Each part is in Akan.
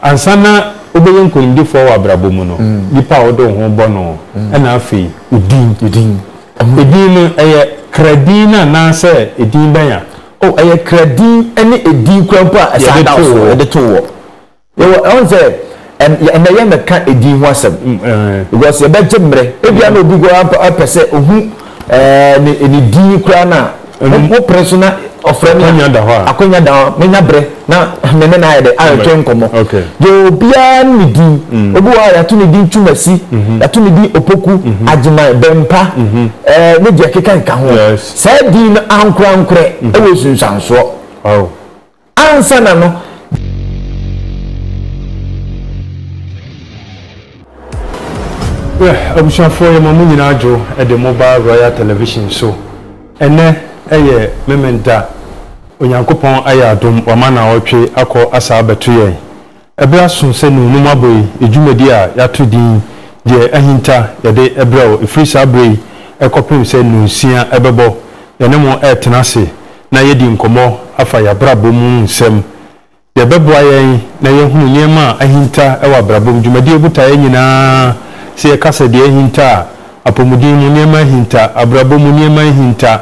Ansa na wobɛyɛ nkonimdifoɔ wɔ abrabɔ mu no, nipa a wode wo ho bɔ no ɛna afei wo din. Edin no, ɛyɛ kra din no anaasɛ edin bɛn a. Oh, ɛyɛ kra din ɛne edin koraa mpo a ɛsan da wo so yɛde too wɔ. Yɛwɔ, ɛwɔ sɛ ɛnɛ yɛn bɛka edin ho asɛm because yɛbɛgye mmerɛ. Ebia na obi koraa pɛ sɛ ohu. Ɛɛ ne ne din koraa no a mo pere so na ɔfrɛ me akwanya da hɔ a akwanya da hɔ a menya berɛ na me ne no ayɛ dɛ ayɛtwe nkɔmmɔ deɛ obiara ne ne din mm. obi wɔ a yɛato ne din twumasi mm-hmm. yɛato ne din opoku mm-hmm. agyeman bɛmpa mm-hmm. ɛɛ ne deɛ keka nka ho saa din no ankorankorɛ ɛwɔ sunsuansoɔ Ansa na no, Yɛh abusuafoɔ yɛma mo nyinaa adwo de mo ba Royal Television so. Ɛnnɛ yɛ Memen Da. Onyankopɔn ayɛ adom wama naɔtwe akɔ asaa abɛto yɛn. Bere aso sɛ Nuu no mu abɔe dwumadi a yɛato din Deɛ Ahinta Yɛde Brɛ Wo. Ɛfiri saa berɛ yi kɔpem sɛ Nuu nsia bɛbɔ, yɛne mo retena ase na yɛadi nkɔmmɔ afa yɛn abrabɔ mu nsɛm. Deɛ ɛbɛboa yɛn na yɛahunu nneɛma a ahinta wɔ abrabɔ mu. Dwumadie botaeɛ nyinaa sɛ yɛka sɛ deɛ ahinta a, apɔmuden mu nneɛma ahinta, abrabɔ mu nneɛma ahinta,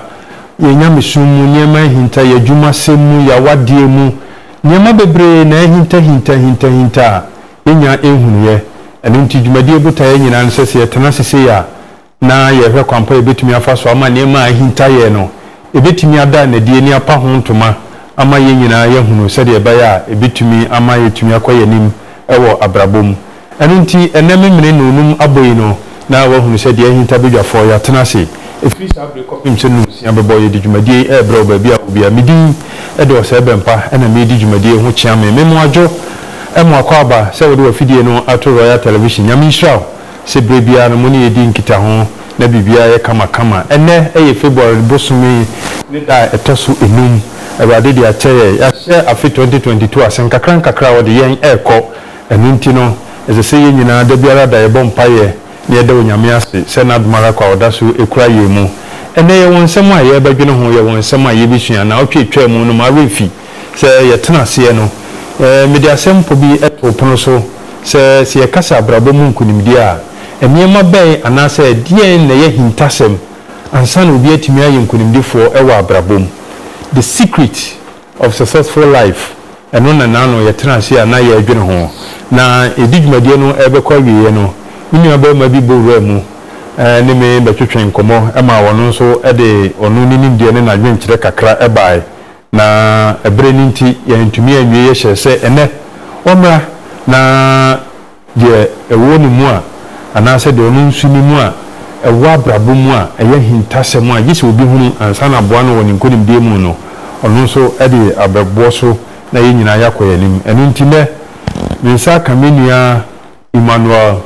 yɛn nyamesom mu nneɛma ahinta, yɛn adwumasɛm mu, yɛn awadeɛ mu, Nneɛma bebree na ahintahintahintahinta a yenya nhunuiɛ. Ɛno nti dwumadie botaeɛ yɛn nyinaa ne sɛ, sɛ yɛtena ase sei a, na yɛrehwɛ kwan pa a yɛbɛtumi afa so ama nneɛma a ahinta yɛn no, ɛbɛtumi ada no adi, ani apa ho ntoma ama yɛn nyinaa yɛahunu sɛdeɛ ɛbɛyɛ a ɛbɛtumi ama yɛatumi akɔ yɛn anim wɔ abrabɔ mu. Ɛno nti, ɛnnɛ memene nnɔnnum abɔ yi no na wɔahunu sɛ deɛ ahinta badwafoɔ, yɛatena ase ɛfiri saa bere yi kɔpem sɛ nnum nsia bɛbɔ, yɛde dwumadie yi rebrɛ wo baabi a wɔ biara. Me din de Ɔsɛe Bɛmpa na meredi dwumadie yi ho kyeame. Me Moadwo mo akwaaba sɛ wode w'afidie no ato Royal Television. Nyame nhyira wo sɛ berɛ biara no mo ne yɛn di nkitaho na biribiara yɛ kama kama. Ɛnnɛ yɛ February bosome ne da a ɛtɔ so nnum. Awurade de akyɛ yɛn, yɛahyɛ afe twenty twenty two ase, nkakra nkakra ɔde yɛn rekɔ. Ɛno nti no, ɛsɛ sɛ yɛn nyinaa da biara da yɛbɔ mpaeɛ na yɛda Onyame ase sɛ N'adom ara kwa a Ɔda so kura yɛn mu. Ɛnnɛ yɛwɔ nsɛm a yɛrebɛdwene ho, yɛwɔ nsɛm a yɛrebɛsua. Naawɔtwe a ɛtwaa mu no, m'awerɛ mfi sɛ yɛtena aseɛ no. Mede asɛmpɔ bi too pono so sɛ, Sɛ yɛka sɛ abrabɔ mu nkonimdie a, nneɛma bɛn anaasɛ deɛn na ɛyɛ ahintasɛm ansa na obi atumi ayɛ nkonimdifoɔ wɔ abrabɔ mu? The Secret. of Successful Life, ɛno na na ano yɛtena ase a na yɛredwene ho. Na yɛde dwumadie no rebɛkɔ awieeɛ no, me nua barima bi bɔ wuraa mu ne me bɛtwetwee nkɔmmɔ maa ɔno nso de ɔno ne nimdeɛ ne n'adwenkyerɛ kakra baeɛ. Na ɛberɛ no nti yɛantumi anwie yɛhyɛɛ sɛ ɛnnɛ ɔmmra na deɛ ɛwɔ ne mu a, anaasɛ deɛ ɔno nso nim a ɛwɔ abrabɔ mu a ɛyɛ ahintasɛm a gye sɛ obi hunu ansa na aboa no wɔ ne nkonimdie mu no, ɔno nso de abɛboɔ so na yɛn nyinaa yɛakɔ yɛn anim. Ɛno nti nnɛ, me nsa aka me nua Emmanuel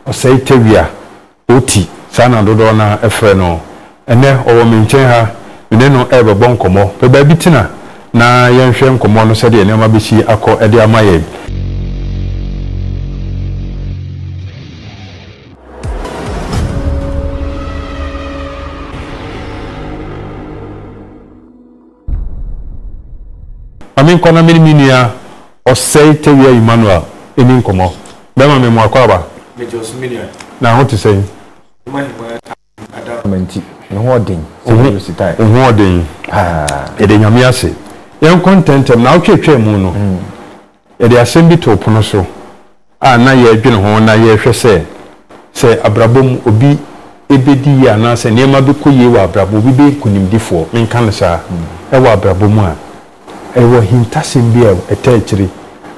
Osei Tawia Oti, saa na dodoɔ no ara frɛ no. Ɛnnɛ, ɔwɔ me nkyɛn ha. Me ne no rebɛbɔ nkɔmmɔ. Pɛ baabi tena na yɛnhwɛ nkɔmmɔ no sɛdeɛ nneɛma bɛsi akɔ de ama yɛn. Ma me nkɔ na me ne me nua ɔsɛe tawia Emmanuel nni nkɔmmɔ. Bɛrima, me mmoa kwaaba. Megye wo so, me nua. Na ho te sɛn? Wo ahengua atamfo adasamma nti, me ho wɔ den sɛ mɛyɛ ositae. Wo ho wɔ den paa. Yɛda Nyame ase. Yɛnkɔ ntɛmntɛm, naawɔtwe atwaa mu no. Yɛde asɛm bi too pono so a na yɛredwene ho na yɛrehwɛ sɛ, sɛ abrabɔ mu obi bedi yie anaasɛ nneɛma bɛkɔ yie wɔ abrabɔ, obi bɛyɛ nkonimdifoɔ, menka no saa, wɔ abrabɔ mu a. Ɛwɔ ahintasɛm bi a ɛtaa akyire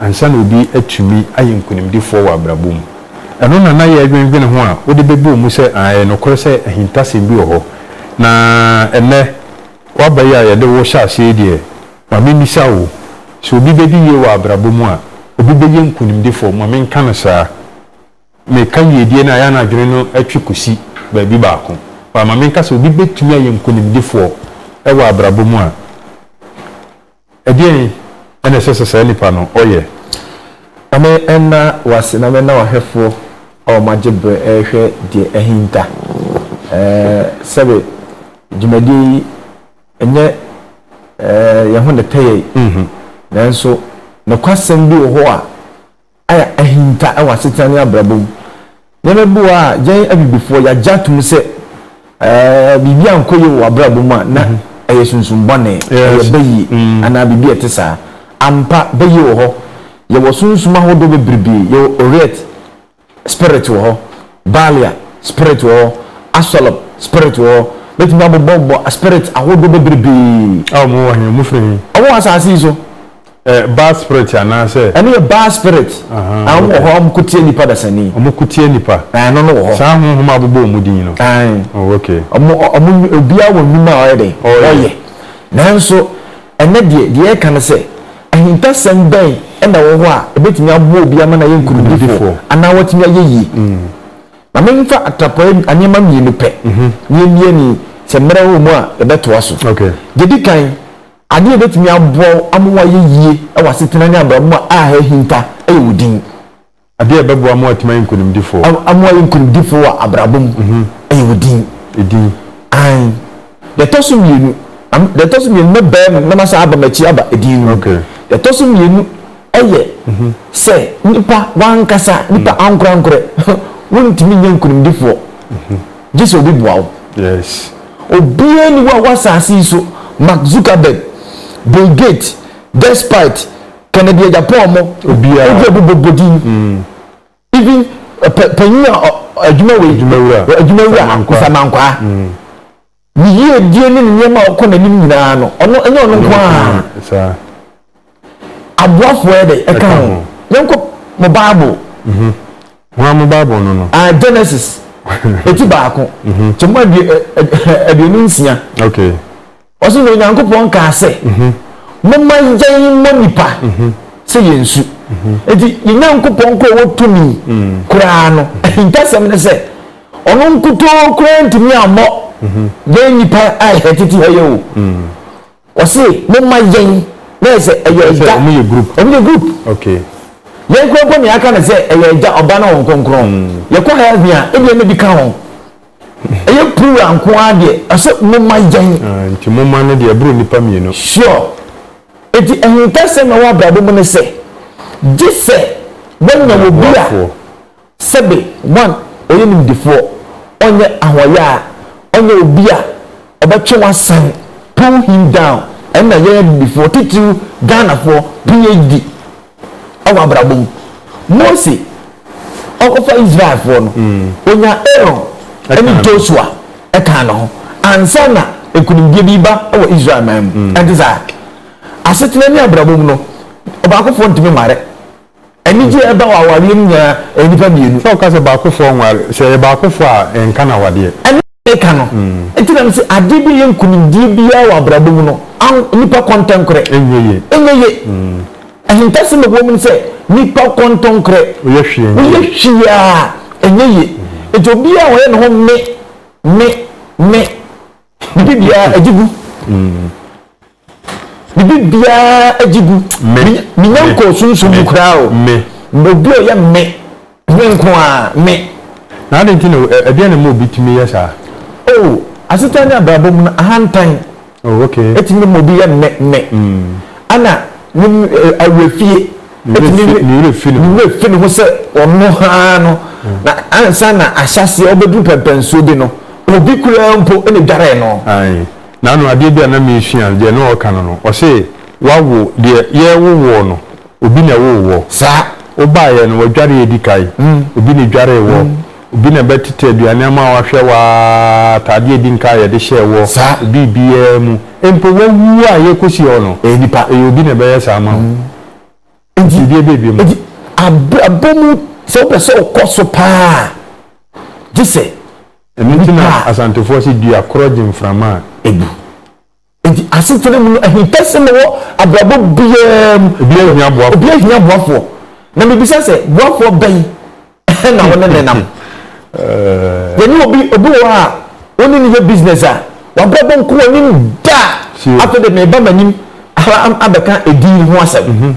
ansa na obi atumi ayɛ nkonimdifoɔ wɔ abrabɔ mu. Ɛno na na yɛredwendwene ho a wode bɛbɔɔ mu sɛ, aane, ɛyɛ nokorɛ sɛ ahintasɛm bi wɔ hɔ. Na ɛnnɛ, w'aba yi a yɛde wo hyɛ aseɛ yi deɛ, Ma mimmisa wo, sɛ obi bedi yiye wɔ abrabɔ mu a, obi beye nkonimdifo? Ma menka no saa. Meka yiyedie no a, ɛyɛ a na adwene no twe kosi baabi baako. But ma menka sɛ obi betumi ayɛ nkonimdifoɔ wɔ abrabɔ mu a, ɛdeɛn na ɛsɛ sɛ saa nipa no ɔyɛ? Ma me nna wo ase na menna w'ahwɛfoɔ a wɔagye berɛ rehwɛ deɛ ahinta. Ɛɛ, sɛbe dwumadie yi. Ɛnyɛ yɛn ho na ɛtɛ yɛn, nanso nokwasɛm bi wɔ hɔ a ayɛ ahinta wɔ asetena ne abrabɔ mu. Nneɛma bi wɔ hɔ a yɛn Abibifoɔ yɛagye atom sɛ biribi ankɔ yie wɔ w'abrabɔ mu a, na ɛyɛ sunsum bɔne, ɛyɛ bayie anaa biribi a ɛte saa. Ampa, bayie wɔ hɔ. Yɛwɔ sunsum ahodoɔ bebrebe. Yɛwɔ Oriet. spirit wɔ hɔ, Baalia spirit wɔ hɔ, Astɔlɔp spirit wɔ hɔ, bɛtumi abobɔbobɔ aspirit ahodoɔ bebrebee. A wɔn wɔ he? Wɔn firi he? Wɔn wɔ asase yi so. Ɛ Baal spirit anaasɛ? Ɛno yɛ Baal spirit. Aha, Ɛɛ, wɔn wɔ hɔ a wɔko tia nnipa dasani. Wɔn ko tia nnipa. Ɛɛ, ɛno no wɔ hɔ. Saa honhom a abobɔ wɔn din no. Ɛɛ. Oh, okay. Wɔn, wɔn, obiara wɔ nnwuma a ɔyɛ dɛ? Ɔyɛ. Nanso, Ɛnnɛ deɛ, deɛ yɛreka ne sɛ, ahintasɛm bɛn na ɛwɔ hɔ a ɛbɛtumi aboa obi ama no ayɛ nkonimdifoɔ anaa watumi ayɛ yie? Ma memfa atrapoe nneɛma mmienu pɛ na yɛmmie ne sɛ mmerɛ wɔ mu a yɛbɛtoa so. Deɛ ɛdi kan, adeɛ a ɛbɛtumi aboa wo ama woayɛ yie wɔ asetena ne abrabɔ mu a ɛha ahinta yɛ wo din. Ade a ɛbɛboa mo atumi ayɛ nkonimdifo. A Mo ayɛ nkonimdifo wɔ abrabɔ mu, ɛyɛ wo din. Edin. Aane. Deɛ ɛtɔ so mmienu, deɛ ɛtɔ so mmienu, mɛbaa mu na masan aba m'akyi aba edin no mu. Ok. Deɛ ɛtɔ so mmienu yɛ sɛ nipa w'ankasa, nipa ankorankorɛ, wontumi nyɛ nkonimdifoɔ gye sɛ obi boa wo. Yes. Obiara nni hɔ a wɔ asase yi so, Mark Zuckerberg, Bill Gates, despite kennedy agya paul mo obi obi bɔ bɔ din mm. even panyin a adwuma wei adwuma wura nsamankwaa mm. ne yie die ne nneɛma a ɔkɔ n'anim nyinaa no ɔno ɛnyɛ ɔno nko a aboafoɔ yɛ dɛ ɛka ho yɛnkɔ mo bible mhm. wɔn a mo bible no no ah, genesis eti baako kyɛ mo aduonu nsia. Ɔse na Onyankopɔn kaa sɛ momma yɛn mmɔ nnipa sɛ yɛn su. Enti yɛn Nyankopɔn koro a ɔwɔ tumi koraa no ahintasɛm ne sɛ ɔno nkutoo koraa ntumi ammɔ yɛn nnipa a yɛ tete ha yi o. Ɔse momma yɛn na yɛ sɛ ɛyɛ agya, ɔmo yɛ group, yɛn koraa mpo nea aka ne sɛ ɛyɛ agya, ɔba ne wɔn kronkron. Yɛkɔ hell he a ebia na bi ka ho. Ɛyɛ plural nko ara deɛ ɔsɛ moma yɛn. Ah nti moma no deɛ ɛboro nnipa mmienu. Sure. Nti ahintasɛm a ɛwɔ abrabɔ mu ne sɛ, gye sɛ wanya obi a sɛbe, one, ɔyɛ nimdefoɔ, ɔnyɛ ahoɔyaa, ɔnyɛ obi a ɔbɛtwe wo asan, pull him down, ɛno na yɛn abibifoɔ, titiriw Ghanafoɔ, PHD, wɔ abrabɔ mu. Mose ɔkɔfa Israelfoɔ no, ɔnya Aaron ne Joshua kaa ne ho ansa na nkunimdie bi ba wɔ Israel man mu. Ɛnte saa? Asetena ne abrabɔ mu no, ɔbaakofoɔ ntumi nware. Anigyeɛ ɛba wɔ awareɛ mu nyinaa ɛyɛ nnipa mmienu. Sɛ woka sɛ baakofoɔ nware, sɛ ɛyɛ baakofoɔ a ɛnka no awadeɛ. meka no nti na mese adeɛ bi yɛ nkunimdie biara wɔ abrabɔ mu no an nipa kɔntɔnkorɛ ɛnyɛ ye ɛnyɛ ye ahintasɛm ɛwɔ mu sɛ nipa kɔntɔnkorɛ woyɛ hwee woyɛ hwee a ɛnyɛ ye nti obi a wɔyɛ ne ho me me me bibi biara agye gu Bibi biara agye gu. Menya nkɔɔ sunsum mu koraa o. Me. Obi a ɔyɛ me. Me nko a me. Na adi nti na ɛdeɛ na ma obi tumi yɛ saa? Oh, asetan ne abrabɔ mu no ahantan. Oh, okay. Etumi ma obi yɛ me me. Ana ne awerɛfie. Etumi ne werɛ fi ne ho. Ne werɛ fi ne ho sɛ ɔno haa no. Na ansa na ahyɛaseɛ ɔbɛduru pɛmpɛnsoɔ bi no, obi koraa mpo na dwaree no. Aye. Na ano adeɛ bi a na meresua no, deɛ na ɔreka no no, ɔse, Wawo, deɛ yɛrewo woɔ no, obi na ɛwoo woɔ. Saa. Wobaeɛ no, wadware adi kan. Obi na edwaree woɔ. Obi na bɛtete aduane ama wo, ahwɛ wo ara, ataadeɛ a edi nka a yɛde hyɛɛ woɔ, biribiara mu. Mpo wawu a yɛrekɔsi hɔ no, ɛyɛ nipa. Ɛyɛ obi na ɛbɛyɛ saa ama wo. Enti, biribiara bɛyɛ bio ma wo. Enti, abrabɔ mu, sɛ wopɛ sɛ wokɔ so paa a, gye sɛ. Ɛno nti na Asantefoɔ se dua korɔ gye mframa a ɛbu. Enti asetena mu no ahinta sɛ mewɔ abrabɔ biara mu. Obiara hia boafoɔ. Obiara hia boafoɔ. Na mebisa sɛ boafoɔ bɛn na wo ne no nam? Yɛne obi, obi wɔ hɔ a wo ne no yɛ business a, w'abrabɔ nko w'anim da a, afei de meba m'anim ha abɛka edin ho asɛm.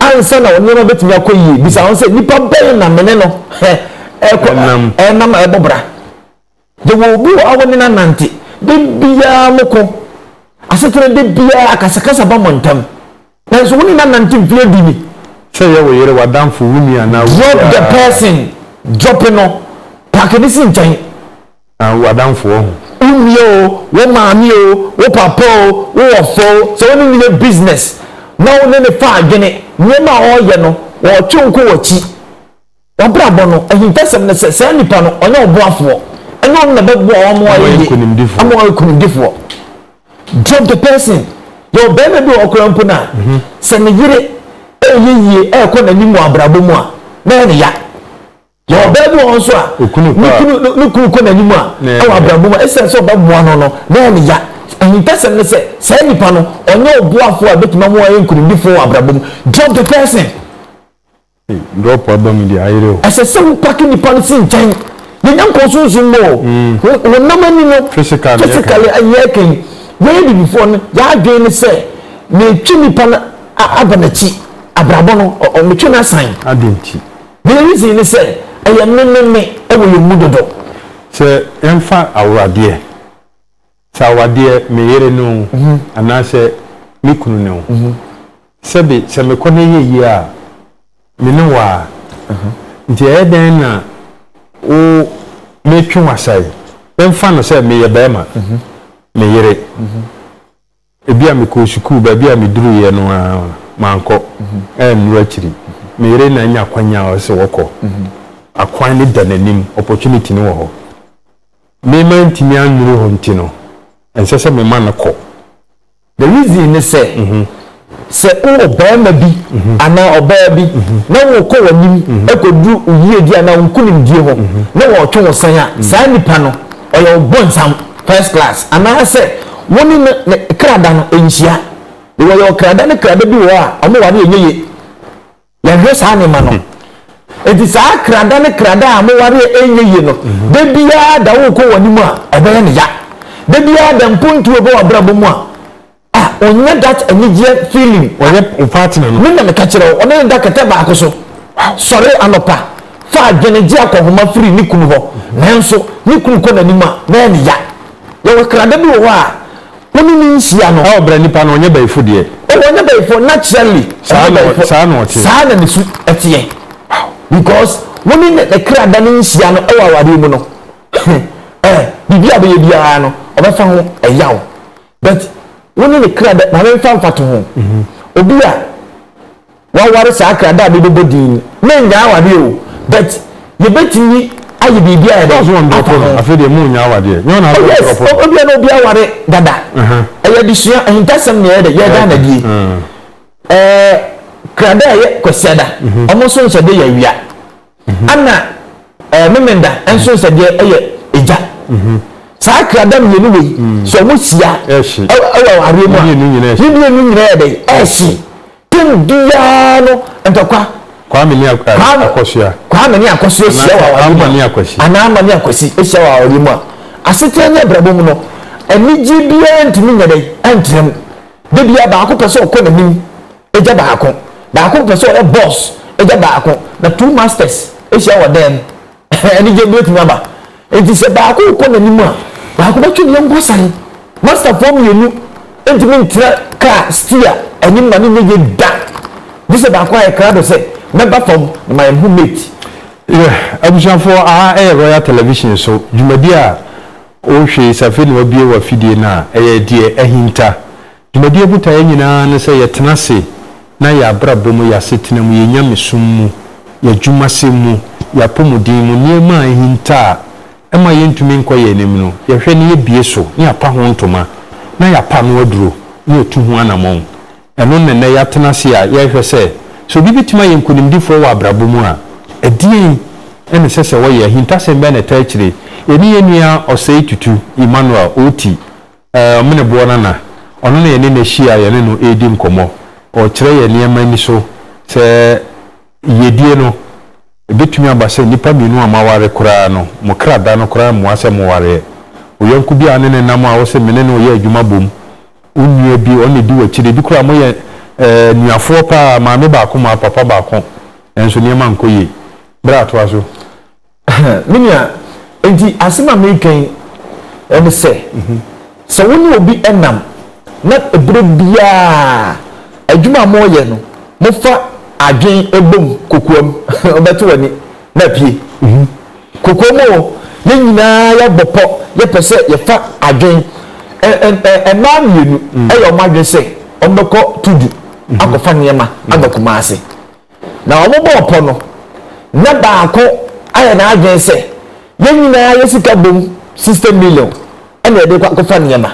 Ansa na wo nneɛma betumi akɔ yiye, bisa wo ho sɛ, 'Nnipa bɛn na me ne no rekɔ nam a ɛbɔ bra? Yɛwɔ obi wɔ ha a wo ne no anante. Da biara moko asetena, da biara akasakasa ba mo ntam. Nanso wo ne no anante mfe adu ni. Sɛ ɛyɛ wo yere, w'adamfo, wo nua anaa obiara. Drop the person, drop no, paake no si nkyɛn. Na wo adamfoɔ ho. Wo nua o, wo maame o, wo papa o, wo wɔfa o, sɛ wo ne no yɛ business na wo ne no fa adwene, nneɛma a ɔreyɛ no, ɔretwe wo kɔ w'akyi, w'abrabɔ no, ahintasɛm no, sɛ saa nipa no, ɔnyɛ wo boafoɔ. Ɛnyɛ ɔno na bɛboa wɔn ama wɔayɛ yie, ama wɔayɛ nkunimdifoɔ. Drop the person. Yɛwɔ barima bi wɔ hɔ koraa mpo no a, sɛ ne yere reyɛ yie, rekɔ n'anim wɔ abrabɔ mu a, na ɛyɛ no ya. Na ɔbaa bi wɔ hɔ nso a, ne kunu kɔ n'anim a, ɛwɔ abrabɔ mu a, esiane sɛ ɔbɛboa no no, na ɛyɛ ne ya. Ahintasɛm ne sɛ, saa nipa no, ɔnyɛ ɔboafo a ebetumi ama wayɛ nkonimdifo wɔ abrabɔ mu. Drop the person. Ei, drop aba mu deɛ, ayere o. Ɛsɛ sɛ wopake nipa no si nkyɛn. Yɛnyɛ nkɔɔ sunsum mu o. Honam ani no, physically, yɛyɛ kan. Yɛyɛ abibifoɔ no, yɛn adwene ne sɛ, metwe nipa no aba m'akyi, abrabɔ no, metwe no asan. Adɛn nti? The reason ne sɛ ɛyɛ me me me ɛwɔ yɛn mu dodo. Sɛ yɛnfa aworadeɛ, sɛ awadeɛ me yere ne o anaasɛ me kunu ne o, sɛbe sɛ mekɔ na ɛyɛ yie a me ne wo a, nti ɛyɛ dɛn na wo metwe w'asa yi, yɛnfa no sɛ meyɛ barima, me yere. Ebia mekɔɔ sukuu, baabi a meduruiɛ no ara mankɔ annuru akyiri. Me yere na anya kwan a ɔsɛ sɛ wɔkɔ. Akwan no da n'anim, opportunity no wɔ hɔ. Me mantumi annuru hɔ nti no, ɛnsɛ sɛ mema no kɔ. The reason ne sɛ, sɛ wowɔ barima bi anaa ɔbaa bi na wokɔ w'anim kɔduru wo yiedie anaa wo nkunimdie hɔ na wɔretwe wo san a, saa nipa no, ɔyɛ wo bonsam first class anaasɛ wo ne no ne krada no nhyia because yɛwɔ krada ne krada bi wɔ hɔ a wɔn ware ɛnyɛ ye yɛhwɛ saa nneɛma no eti saa krada ne krada a wɔn ware ɛnyɛ ye no da biara da wokɔ wɔn anim a ɛbɛyɛ ne ya da biara da mpontuo bɛ wɔ abrabɔ mu a Ah onya that anigyeɛ feeling. Ɔyɛ wo partner no. Me na meka kyerɛ wo, ɔne ne da kɛtɛ baako so. Sɔre anɔpa, fa adwene gye akɔnhoma firi ne kunu hɔ. Nanso ne kunu kɔ n'anim a, na ɛyɛ ne ya. Yɛwɔ krada bi wɔ hɔ a, wo ne no nhyia no. Ɛwɔ berɛ nipa no ɔnyɛ bayifo deɛ. Oh ɔnyɛ bayifo, naturally ɔnyɛ bayifo. Saa na ɔte. Saa na ne su teɛ. Because wo ne ne krada no nhyia no wɔ awareɛ mu no, eh, biribi a ɔbɛyɛ biara no, ɔbɛfa ho ɛyaw. But wo ne ne kra dɛ maame nfa mfato ho. Mhm. Obi a waware saa kra da a mebɛbɔ din ni. Mennyaa awadeɛ o but yɛbɛtumi ayɛ biribi ayɛ dɛ. Ɔsɔ wɔn dɔpɔ no afei deɛ mo nyaa awadeɛ. Nyɛ wɔn na wɔn dɔpɔ. Yes, obi a na obi aware dada. Ɛyɛ adesua ahintasɛm na ɛyɛ dɛ yɛ da na die. Ɛɛ kra da a yɛ kwasiada. Ɔmo nso nhyɛ de yɛ awia. ɛna ɛɛ memenda nso nsɛdeɛ ɛyɛ egya saa krada mmienu wei sɛ wɔn hyia ɛwɔ awareɛ mu a ne mmienu nyinaa yɛ dɛ ɛhye tem biara no ntɔkwa kwame ne akɔsoa kwame ne akɔsoa hyia wɔ awareɛ mu a anaa ama ne akwasi hyia wɔ awareɛ mu a asetena ne abrabɔ mu no anigye biara ntumi nyɛ dɛ ɛntrɛm de bia baako pɛ sɛ ɔkɔ n'anim Agya baako, baako mpɛ sɛ ɔyɛ boss agya baako, na two masters ahyia wɔ dan mu. Anigye bi betumi aba. Enti sɛ baako rekɔ n'anim a, baako bɛtwe ne yɔnko asan. Masterfoɔ mmienu ntumi ntena kaa steer anim ma no nyɛ yie da, gye sɛ baako ayɛ krado sɛ, Mɛba fam na mayɛ me ho mate. Yeah, abusuafoɔ, aha yɛ Royal Television so dwumadi a wohwɛ yi. Sɛ afei na wabue w'afidie no a, ɛyɛ deɛ ahinta. Dwumadie botaeɛ nyinaa ne sɛ yɛtena ase na yɛn abrabɔ mu, yɛn asetena mu, yɛn nyamesom mu, yɛn adwumasɛm mu, yɛn apɔmuden mu, nneɛma a ahinta a ɛma yɛntumi nkɔ yɛn anim no, yɛhwɛ na yɛbue so na yɛapa ho ntoma na yɛapa ano aduro na yɛtu ho anamɔn. Ɛno na nnɛ yɛatena ase a yɛrehwɛ sɛ, sɛ obi bɛtumi ayɛ nkonimdifoɔ wɔ abrabɔ mu a, ɛdeɛn na ɛsɛ sɛ ɔyɛ, ahintasɛm bɛn na ɛtaa akyire. Yɛne yɛn nua Ɔsɛe Tutu Emmanuel Oti Me ne boɔ nana, ɔno na yɛne no ahyia a yɛne no redi nkɔmmɔ. Ɔrekyerɛ yɛn nneɛma ani so. Sɛ yiedie no, ɛbɛtumi aba sɛ nnipa mmienu a moaware koraa no, mo kra da no koraa mmoa sɛ mowareɛ. Wo yɔnko bi a wo ne no nam a wose me ne no reyɛ adwuma bom, wo nua bi, ɔno na ɛdi w'akyiri. Ebi koraa moyɛ anuafoɔ pa ara, maame baako moa papa baako, nanso nneɛma nkɔ yie. Bra toa so. Me nua, enti asɛm a mereka yi ne sɛ, sɛ wo ne obi nam na berɛ biara adwuma a moreyɛ no, mofa adwene bom kokoam, wobɛte w'ani na apue. Kokoam o, yɛn nyinaa yɛabɔ pɔ, yɛpɛ sɛ yɛfa adwene. Mmaa mmienu yɛ wɔn adwene sɛ wɔbɛkɔ Tudu akɔfa nneɛma aba Kumasi. Na wɔbɔɔ pɔ no, na baako ayɛ n'adwene sɛ, Yɛn nyinaa yɛ sika bom sista miliɔn na yɛde rekɔ akɔfa nneɛma.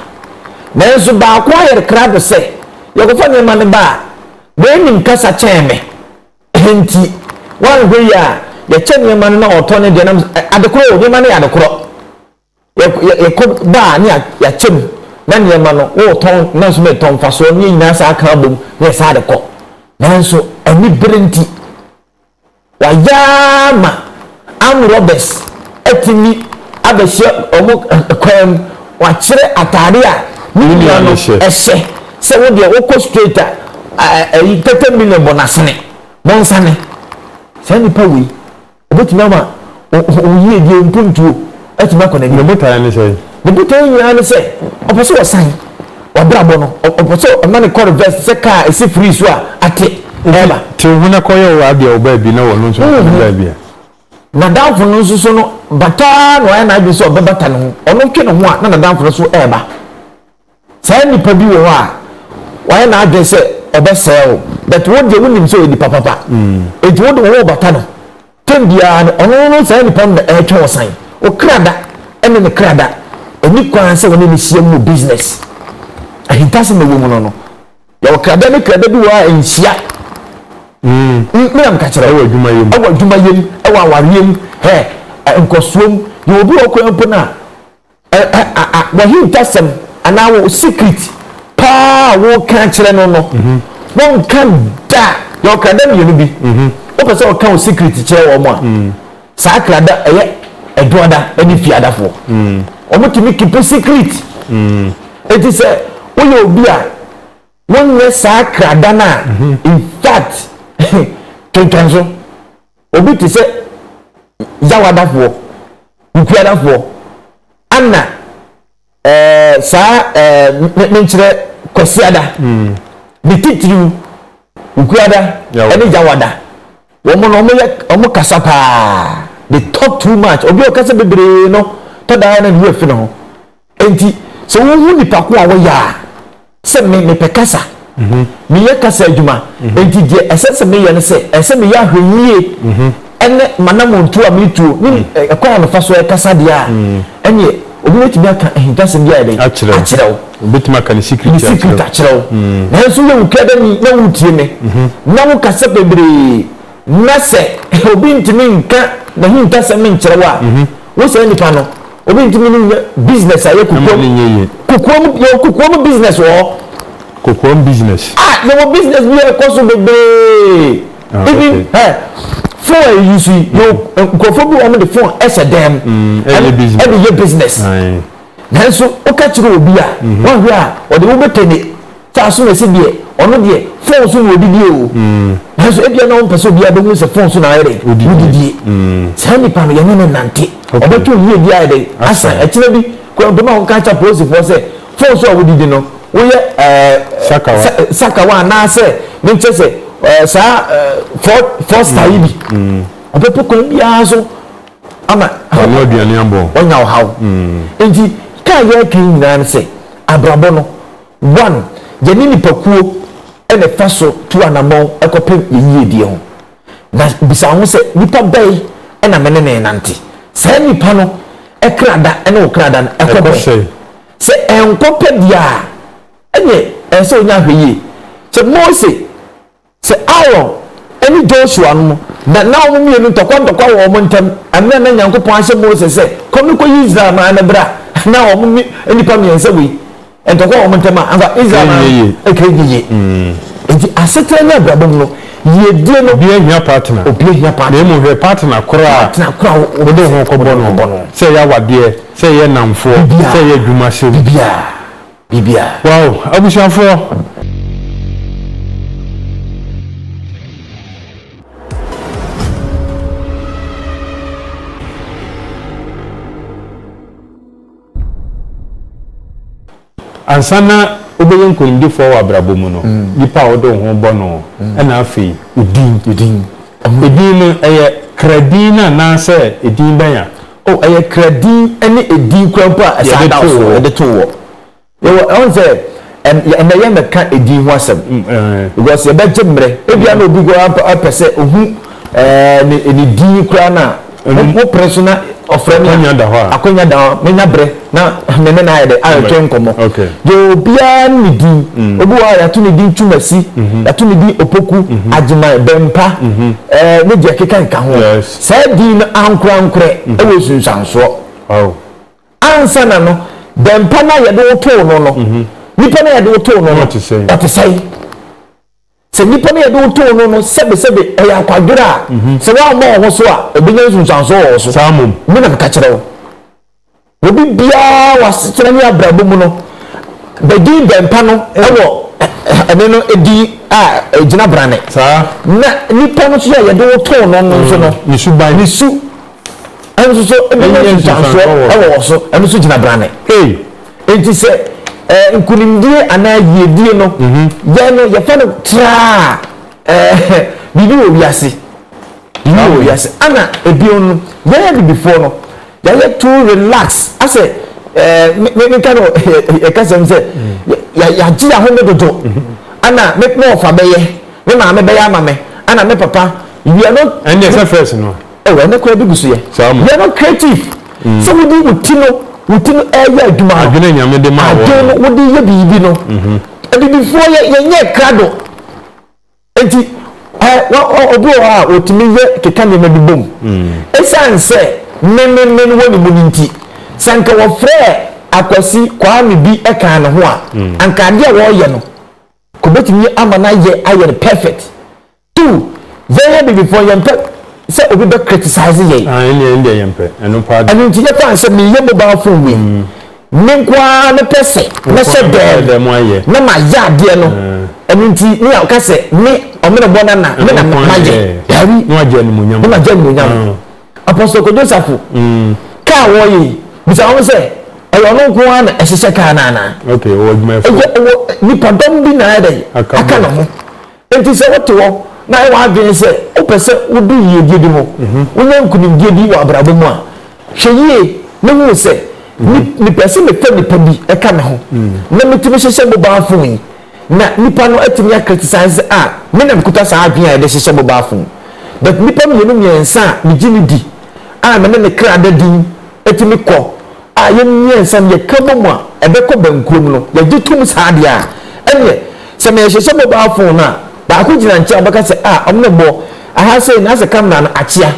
Nanso baako ayɛ krado sɛ, Yɛkɔfa nneɛma no ba a, n'anim kasa kyɛn me. Enti wɔanhwɛ yie a, yɛkyɛ nneɛma no na ɔtɔ ne deɛ nam sɛ, Adekorɔ o, nneɛma no yɛ adekorɔ. Yɛ yɛ kɔ ba a ne yɛ yɛakyɛ mu na nneɛma no wotɔn nanso ne tɔn mfasoɔ ne yɛ nyinaa saa aka abom ne yɛ saa de kɔ nanso ani bere nti wayɛ ara ma arm robbers atumi abɛhyɛ wɔn kwan mu wakyerɛ ataade a ne nua no ɛhyɛ sɛ wo deɛ wokɔ straight a ɛyi tɛtɛ million bɔ n'asene bonsane saa nipa wei. Ɛbɛtumi ama wo yiedie mpuntuo atumi akɔ n'anim. Ne botaeɛ ne sɛn? Ne botaeɛ nyinaa ne sɛ ɔpɛ sɛ ɔsan w'abrabɔ no. Ɔpɛ sɛ ɔma no kɔ reverse te sɛ kaa a ɛsi free so a ate ɛreba. Te wo ho na kɔyɛ wo adeɛ wɔ baabi na ɔno nso nkɔ ne baabi a. N'adamfo no nso so no, bata ara na wayɛ n'adwene sɛ ɔbɛbata ne ho. Ɔno twe ne ho a na n'adamfo no nso reba. Saa nipa bi wɔ hɔ a wayɛ n'adwene sɛ ɔbɛsɛe wo but wo deɛ wonim sɛ ɔyɛ nipa papa nti wode wo ho rebata no time biara no ɔno no saa nipa no na ɛretwe wo san wo kra da ɛne ne kra da ɛni kwan sɛ wɔne ne hyia mu wɔ business ahintasɛm na ɛwɔ mu no no yɛwɔ krada ne krada bi wɔ a ɛnhyia mmena meka kyerɛ ɛwɔ adwuma yam ɛwɔ adwuma yam ɛwɔ awareɛ mu hɛ nkɔsoɔ mu yɛwɔ bi wɔ kwan mpo no a W'ahintasɛm anaa wo secret paa a woreka akyerɛ no no, wonka da. Yɛwɔ krada mmienu bi. Wopɛ sɛ ɔka wo secret kyerɛ wɔn a, saa krada ɛyɛ ɛdoada ne fiadafoɔ. Wɔtumi kipu secret. Enti sɛ woyɛ obi a wonyɛ saa krada no a, in fact, kenkan so. Obi te sɛ Yaw adafoɔ, Nkuya adafoɔ, Anna, ɛɛ saa ɛɛ me menkyerɛ Kwasiada, ne titiriw Nkuada ɛne Yawada. Wɔn no wɔn yɛ wɔn kasa paa. They talk too much. Obi a ɔkasa bebree no tɔ da ara na ne werɛ fi ne ho. Enti, sɛ wohu nnipa ko a wɔyɛ a, sɛ me, mepɛ kasa, mm-hmm. meyɛ kasa adwuma, mm-hmm. enti deɛ ɛsɛ sɛ meyɛ no sɛ, ɛsɛ meyɛ ahwɛyie mm-hmm. ɛne manamontuo a metuo ne mm. ɛkwan a mefa so ɛkasa deɛ a mm. ɛneɛ obi bɛtumi aka ahintasɛm bi ayɛ dɛn akyerɛ wo obetumi aka ne secret ne secret akyerɛ wo mm. nanso yɛ wukɛ dɛ ni na wutie me na wokasa bebree Na sɛ obi ntumi nka n'ahintasɛm nkyerɛ wo a, wo saa nipa no, obi ntumi ne wo nyɛ business a yɛ kokoam. Kokoam, yɛwɔ kokoam business wɔ hɔ. Kokoam business? Ah, yɛwɔ business bi a ɛkɔ so bebree. Ah, Even, okay. Hɛ, phone a yɛyi so yi, yɛwɔ mm-hmm. nkurɔfoɔ bi wɔn de phone ɛhyɛ dan mu. Mm, ɛde yɛ business. Nanso, woka kyerɛ obi a, mm-hmm. wɔhwɛ a, ɔde wobɛtɛne Taa so na ɛsɛ deɛ ɔno deɛ phone so na ɔdidie o nanso ebia na ɔmpɛ sɛ obiara bɛhu sɛ phone so na ayɛ dɛ wodidie saa nipa no yɛne no nante ɔbɛtwe wo yie bi ayɛ dɛ asan ɛkyerɛ bi kora mpɛma a wɔka kyɛ polisifoɔ sɛ phone so a wodidi no woyɛ ɛɛ sakawa anaasɛ menkyɛ sɛ ɛɛ saa ɛɛ fɔsta yi bi ɔbɛpɛ kwan biara so ama ɔno aduane abɔ ɔnya ɔhaw nti kaa yɛreka nyinaa no sɛ abrabɔ no One, yɛne nnipakuo na ɛfa so tu anamɔn kɔpem yɛn yiedie ho. Na bisa wo ho sɛ, Nnipa bɛn na me ne no renante? Saa nnipa no kra da ne wo kra da no kɔ bɛn? Sɛ ɛnkɔ pɛ deɛ a, ɛnneɛ ɛsɛ sɛ ɔnya ahwɛyie. Sɛ Mose Sɛ Aaron ne Joshua no, na na wɔn mmienu ntɔkwa ntɔkwa wɔ wɔn ntam. Mmerɛ a na Nyankopɔn ahyɛ Mose sɛ, Kɔ no kɔyi Israel man no bra, na wɔn ne nnipa mmiɛnsa wei ntɔkwa wɔ wɔn ntam a, anka Israel man no ɛka ɛnyɛ yie. Enti asetena ne abrabɔ mu no, yiedie no, Obiara hia partner. obiara hia partner. Na mmom hwɛ partner korɔ a Partner korɔ a wo- wo- wode wo ho kɔbɔ wode wo ho kɔbɔ no. no. Sɛ ɛyɛ awadeɛ, sɛ ɛyɛ nnamfoɔ, Biribiara. sɛ ɛyɛ adwuma sɛm. Biribiara. biribiara. Wow abusuafoɔ. Ansa na wobɛyɛ nkonimdifoɔ wɔ abrabɔ mu no, nipa a wode wo ho bɔ no, ɛna afei edin. Edin. Edin no ɛyɛ kra din no anaasɛ edin bɛn a O, ɛyɛ kra din ne edin koraa mpo a ɛsɛ adaw so yɛde to wɔ. Yɛwɔ, ɛho sɛ, ɛn, ɛnnɛ yɛn bɛka edin ho asɛm. Because yɛbɛgye mmerɛ. Ebia na obi koraa mpo pɛ sɛ ohu, ɛɛ, ne, ne din koraa no a, mo, mo pere so na ɔfrɛ me a. Akwanya da hɔ a. Akwanya da hɔ a, menya berɛ na me ne no ayɛ dɛ, atwetwe nkɔmmɔ. Deɛ obiara ne ne din. Obi wɔ hɔ a yɛato ne din Twumasi, yɛato ne din Opoku, Agyeman, Bɛmpa, ɛɛ, ne deɛ ɛkeka keka ho. Saa din no ankorankorɛ wɔ nsunsuansoɔ. Ansana no, dɛmpa no a yɛde wo too no no, nipa no a yɛde wo too no no, ɔte sɛn? Sɛ nipa no a yɛde wo too no no, sɛbesɛbe ɔyɛ akwadworɔ a, sɛ woammɔ wo ho so a, ɔbɛnya nsunsuansoɔ wɔ wo so. Saa mmom. Me na meka kyerɛ wo. Obi biara wɔ asetena ne abrabɔ mu no bɛdin bɛmpa no wɔ ɛne no din a ɛgyina brane. Na nipa no nso a yɛde wo too no no nso no, mm, ne su ɛno nso so ɛbɛnya nsusuansoɔ wɔ wɔ so, ɛno nso gyina brane. Enti sɛ eh, nkunimdie anaa yiedie no, mhm. yɛn no yɛfɛ no traa eh, biribi wɔ wiase. Saa wɔ wiase ana ebien no yɛyɛ bibifoɔ no yɛayɛ too relax asɛ ɛɛ me me ka no yɛ kasɛm sɛ yɛ yɛagye yɛn ahome dodo ana me me ɔfa bɛyɛ me maame bɛyɛ ama me ana me papa we are not. ɛnna ɛsɛ fɛs no. ɛwɔ ɛnna kura bi gu so yɛ we are not creative sɛ wodi wo ti no wo ti no ɛyɛ adwuma no adwene nyame de ma wɔ adwene no wodi yɛ biribi no abibifoɔ yɛ yɛ nyɛ krado. Enti, ɛ, wɔ, ɔ, obi wɔ hɔ a otumi yɛ, keka nneɛma bi bom. Esiane sɛ menmenmen wɔ ne mu no nti, sɛ anka wɔfrɛɛ Akwasi Kwame bi kaa ne ho a, anka ade a ɔreyɛ no, anka obetumi ama no ayɛ, ayɛ no perfect. Too, yɛn ha Abibifoɔ no, yɛmpɛ sɛ obi bɛ criticize yɛn. Ah, ɛnneɛ, ɛndeɛ yɛmpɛ ɛno paa de. Ɛno nti, yɛfaa no sɛ meyɛ mobile phone wei, Me nko ara mepɛ sɛ mɛhyɛ dɛm na mayɛ adeɛ no ɛno nti ne a ɔka sɛ me ɔmenebɔ no na me na mayɛ dabi na magye animonyam apɔsɔ kwadwo safo kaa wɔyɛ bisa wɔn sɛ ɛyɛ ɔno nko ara na ɛhyehyɛ kaa no anaa ɛyɛ ɔwɔ nipadɔm bi na ayɛ dɛ aka ne ho Enti sɛ wote hɔ na ayɛ w'adwene sɛ wopɛ sɛ wudu yiyedi bi ho, wunya nkonimdi bi wɔ abrabɔ mu a, hwɛ yiye na hu sɛ, 'Mepɛ sɛ mefa nipa bi ka me ho na mitumi hyehyɛ mobaa fon yi, na nipa no atumi akritisize a, me na mikuta saa adwene a yɛde hyehyɛ mobaa fon. But nnipa mmienu mmiɛnsa a migye no di a me ne me kra da din tumi kɔ a yɛn mmiɛnsa no yɛka bom a ɛbɛkɔ bɛnkurom no yɛgye tom saa deɛ a ɛneɛ sɛ mehyehyɛ mobile phone no a baako gyina nkyɛn a ɔbɛka sɛ a ɔmo ne mmɔ aha sei na asɛ camera no akyea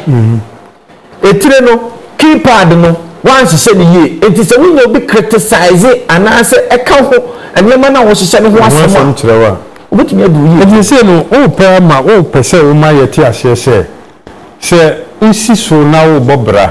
etire no keypad no wanhyehyɛ no yie enti sɛ wonya obi criticize anaasɛ ɛka ho nneɛma no a wɔhyehyɛ no ho asɛm a wobɛtumi adi wo yie ɛti sei no wopɛ ama wopɛ sɛ woma yɛte aseɛ sɛ sɛ wosi so na wobɔ bra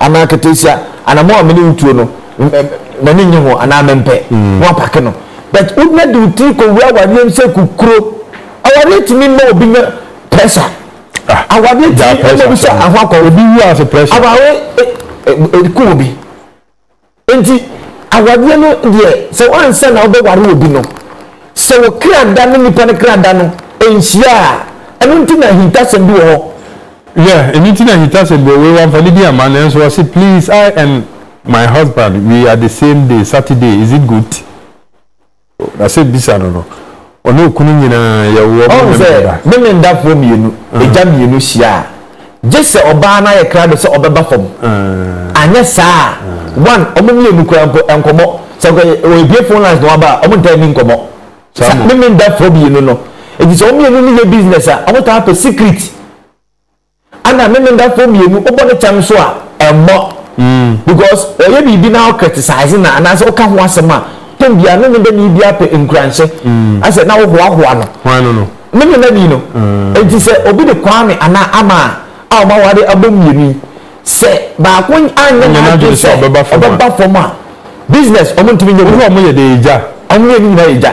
Anaa ketesia anamɔn a me ne wo tuo no m'ani nnye ho anaa mempɛ na wapake no but wogyina de wo tiri kɔwura awareɛ mu sɛ kukuro awareɛ tumi ma obi nya pressure ah, awareɛ tumi ma obi sɛ ahoakɔ obi wu ase pressure awareɛ ɛku eh, eh, eh, obi Enti awadeɛ no deɛ sɛ ansa na wobɛware obi no, sɛ wo kra da ne nipa no kra da no nhyia a, ɛno nti na ahintasɛm bi wɔ hɔ. Yeah, ɛno nti na ahintasɛm bi wɔ hɔ. Wei wamfa ne din amma nanso ɔse please I and my husband we are the same day, Saturday, is it good? Na sɛ bisa no no, ɔne okunu nyinaa yɛ wɔn Ɔhu sɛ memenda. memendafoɔ mmienu, agya mmienu hyia a, gye sɛ ɔbaa no ayɛ krado sɛ ɔbɛba fam. Anyɛ saa a, one, wɔn mmienu koraa mpo, nkɔmmɔ, sɛ nka wɔabue phone lines na waba a, wɔntaa nni nkɔmmɔ. Saa Saa mo. memendafoɔ mmienu no, efisɛ wɔn mmienu no yɛ business a, wɔtaa pɛ secret. Ana ne ne dafo mmienu wobɔ ne kyɛm nso a ɛmmɔ because ɔyɛ biribi na wo criticize no anaasɛ woka ho asɛm a tɛm biara ne ne dani biara pɛ nkuranhyɛ asɛ na wohoahoa no ne ne dani no nti sɛ obi de Kwame anaa Ama a wɔn aware abom mmienu yi sɛ baako anyɛ n'adwene sɛ ɔbɛba fam a business wɔn ntumi nyɛ wɔn yɛ de yɛ gya wɔn mmienu nyinaa yɛ gya.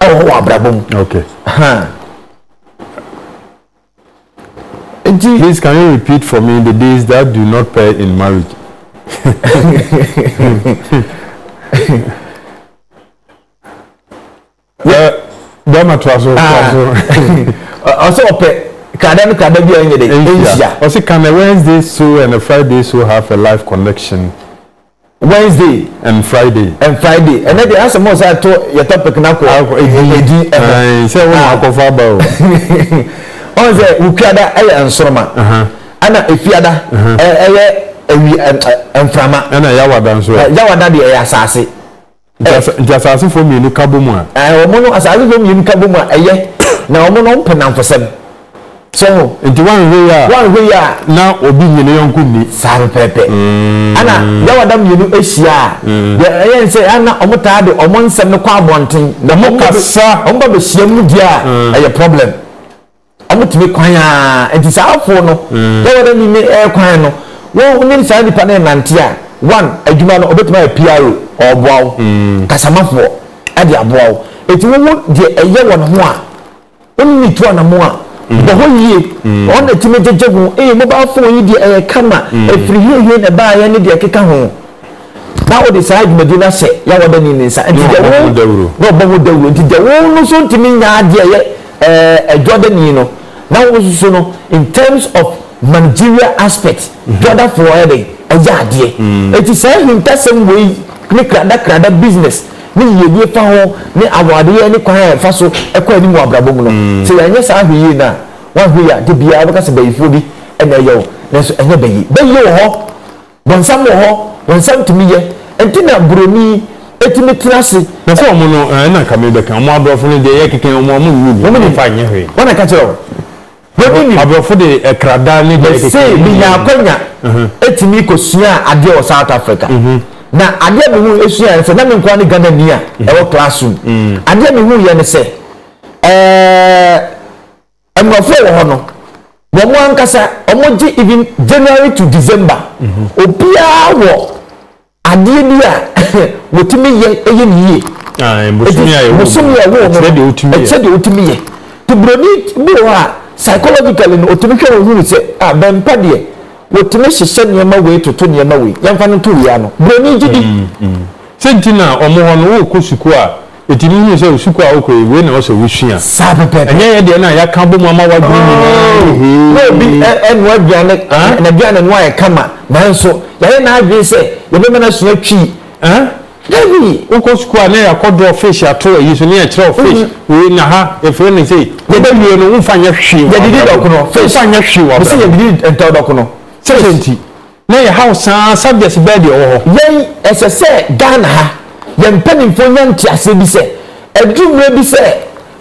ɛwɔ hɔ wɔ abrabɔ mu. Okay. Huh. Nti. Please can you repeat for me the days that do not pair in marriage? Bɛma to aso to aso. Ɔsɛ ɔpɛ kada no kada bi a ɛnyɛ dɛ ɛnhyia. Ɔsɛ can a Wednesday so and a Friday so have a life connection? Wednesday and Friday. And Friday. And then the answer more say to your topic na ko. Edi. Eh. Say wo na ko fa ba o. On say ukiada eye ansoroma. Aha. Ana efiada. Eh eye ewi mframa. Ana yawada nso. Yawada de eye asase. Nti nti asaasefoɔ mmienu ka bɔ mu a. Ɛɛ wɔn no asaasefoɔ mmienu ka bɔ mu a ɛyɛ na wɔn no wɔmpɛ nnamfosɛm. So ho. Nti woanhwɛ yie a. Woanhwɛ yie a. Na obi nnye ne yɔnko nni. Saa pɛpɛɛpɛ. Ɛna yaɔda mmienu hyia a. Deɛ ɛyɛ ne sɛ ɛna wɔtaa de wɔn nsɛm no kɔ abɔnten. Wɔkasa. Wɔba bɛhyiam no deɛ a ɛyɛ problem. Wɔtumi kwan ara nti saa afoɔ no na wɔn ani ne ɛɛ kwan no wɔn nim saa nipa no renante a one adwuma no ɔbɛtumi ayɛ PRO ɔreboa wo kasamafoɔ ɛde aboa wo ɛti wo wo deɛ ɛyɛ wɔ ne ho a wo ne ne tu anamɔ a bɔ hɔ yie ɔno na ɛtumi gyegye ho ee mobile phone yi deɛ ɛyɛ kama ɛfiri hehe na ɛbaeɛ ne deɛ ɛkeka ho. na wode saa dwumadi no ahyɛ Yawɔdani ne nsa, nti deɛ wo, na ɔbɔ ho dawuro, nti deɛ wo no so ntumi nya adeɛ ɛyɛ ɛɛ Jɔdani no, na wo nso so no, in terms of managerial aspect, Jɔdafoɔ ɛyɛ dɛn, ɛyɛ adeɛ. Nti saa ahintasɛm wei ne kradakrada business ne yiedie fa ho ne awadeɛ ne kwan a ɛfa so kɔ anim wɔ abrabɔ mu no, sɛ yɛanyɛ saa ahwɛ yie no a, woanhwɛ yie a, da biara wobɛka sɛ bayifoɔ bi na ɛyɛ wo, nanso ɛnyɛ bayi. Bayi wɔ hɔ. Wɔn nsɛm wɔ hɔ, wɔn nsɛm tumi yɛ, ɛnti na buroni tumi tena ase. Na sɛ wɔn no, ɛna nka me bɛka, wɔn aborɔfo no deɛ, yɛ keka wɔn a, wɔn nni bi, wɔn mfa nyɛ hwee. Wɔn na ɛka kyerɛ wo, buroni nim. Aborɔfo de ɛkradaa ne deɛ ɛkeka. Mese menya akwanya tumi kɔ sua adeɛ wɔ South Africa, na adeɛ me hu sua yɛ ne sɛ, na me nkoa ne Ghana ni a ɛwɔ classroom, adeɛ me hu yɛ ne sɛ, ɛɛ. Mmorɔfo a ɛwɔ hɔ no, wɔn ankasa wɔgye even January to December. Mm -hmm. Obiara wɔ adeɛ bi a wɔtumi yɛ ɛyɛ ne yie. Ah, bosomi a ɛwɔ bosomi a ɛwɔ ɛkyɛ deɛ wɔtumi yɛ. Ɛkyɛ deɛ wɔtumi yɛ. Te buroni bi wɔ hɔ a psychologically no wɔtumi hwɛ wɔn hunu sɛ a ah, bɛmpa deɛ wɔtumi hyehyɛ nneɛma wei toto nneɛma wei yɛmfa no to wei ano. Buroni gye di. Mm, mm. Sɛ nti na wɔn hɔ no wɔrekɔ sukuu a Enti muhunu sɛ sukuu a wokɔ yi, wei na ɛwɔ sɛ wusua. Saa pɛpɛɛpɛ. Ɛnyɛ yɛn deɛ no a yɛaka abom ama w'adwene nyinaa Oh! ne hee. Na obi ɛ, ɛnoa aduane, Huh? n'aduane no ayɛ kama, nanso yɛayɛ n'adwene sɛ yɛbɛma no asua Twi. Huh? Dabi! Wokɔ sukuu a na yɛakɔ draw fish ato ayi so, ne yɛkyerɛ wo fish wei na ha yɛfrɛ no sei. Wobɛwie no, womfa nyɛ hwee wɔ Yɛdidi abrabɔ mu. dɔkono, fish. Womfa nyɛ hwee wɔ Mese abrabɔ mu. yɛdidi ntawdɔkono, Sɛ fish. dɛn nti? Na yɛ how saa subjects bɛɛ deɛ ɔwɔ hɔ. Yɛn ɛsɛ sɛ Ghana ha yɛn mpaninfoɔ nya nteaseɛ bi sɛ aduru mmerɛ bi sɛ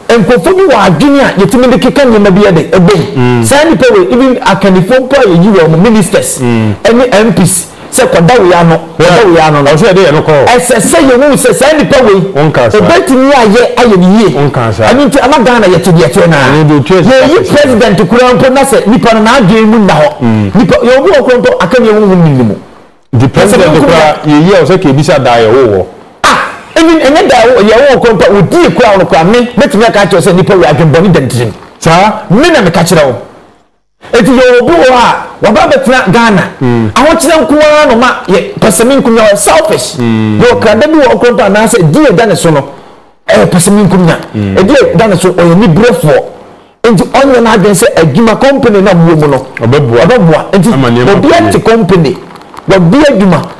nkorɔfoɔ bi wɔ adwene a yɛtumi de keka nneɛma bi de bɔ mu. Saa nnipa wei even akannifoɔ mpo a yɛyi wɔn, ministers ne MPs sɛ kɔda wei ano, kɔda wei ano no, ɛsɛ sɛ yɛhunu sɛ saa nnipa wei ɔbɛtumi ayɛ ayɛ ne yie. Ɛno nti ama Ghana yɛte deɛ ɛteɛ no ara. Yɛyi president koraa mpo na sɛ nipa no n'adwene mu nna hɔ. Nipa yɛwɔ bi wɔ hɔ koraa mpo akanniɛ honhom nnim ne mu. Nti president koraa yɛyi a ɔsɛ ka ebisa daa yɛwoo wɔ? Ah! Even ɛnyɛ daa yɛwoo yɛwoo wɔ koraa mpo a wɔdi yɛ koraa wɔ no koraa me mɛtumi aka akyerɛ wo sɛ nipa wei adwene bɔne da ne tirim. Saa? Me na meka kyerɛ wo. Enti yɛwɔ obi wɔ hɔ a waba abɛtena Ghana, ahokyerɛ nko ara na ɔma yɛ, pɛsɛmenkomenya, ɔyɛ selfish, yɛwɔ krada bi wɔ hɔ koraa mpo a anaasɛ ɛdin a ɛda ne so no ɛyɛ pɛsɛmenkomenya, ɛdin a ɛda ne so ɔyɛ aniberefoɔ, enti ɔnyɛ n'adwene sɛ adwuma, company no a mowɔ mu no ɔbɛboa, enti obiara te company, wabue adwuma,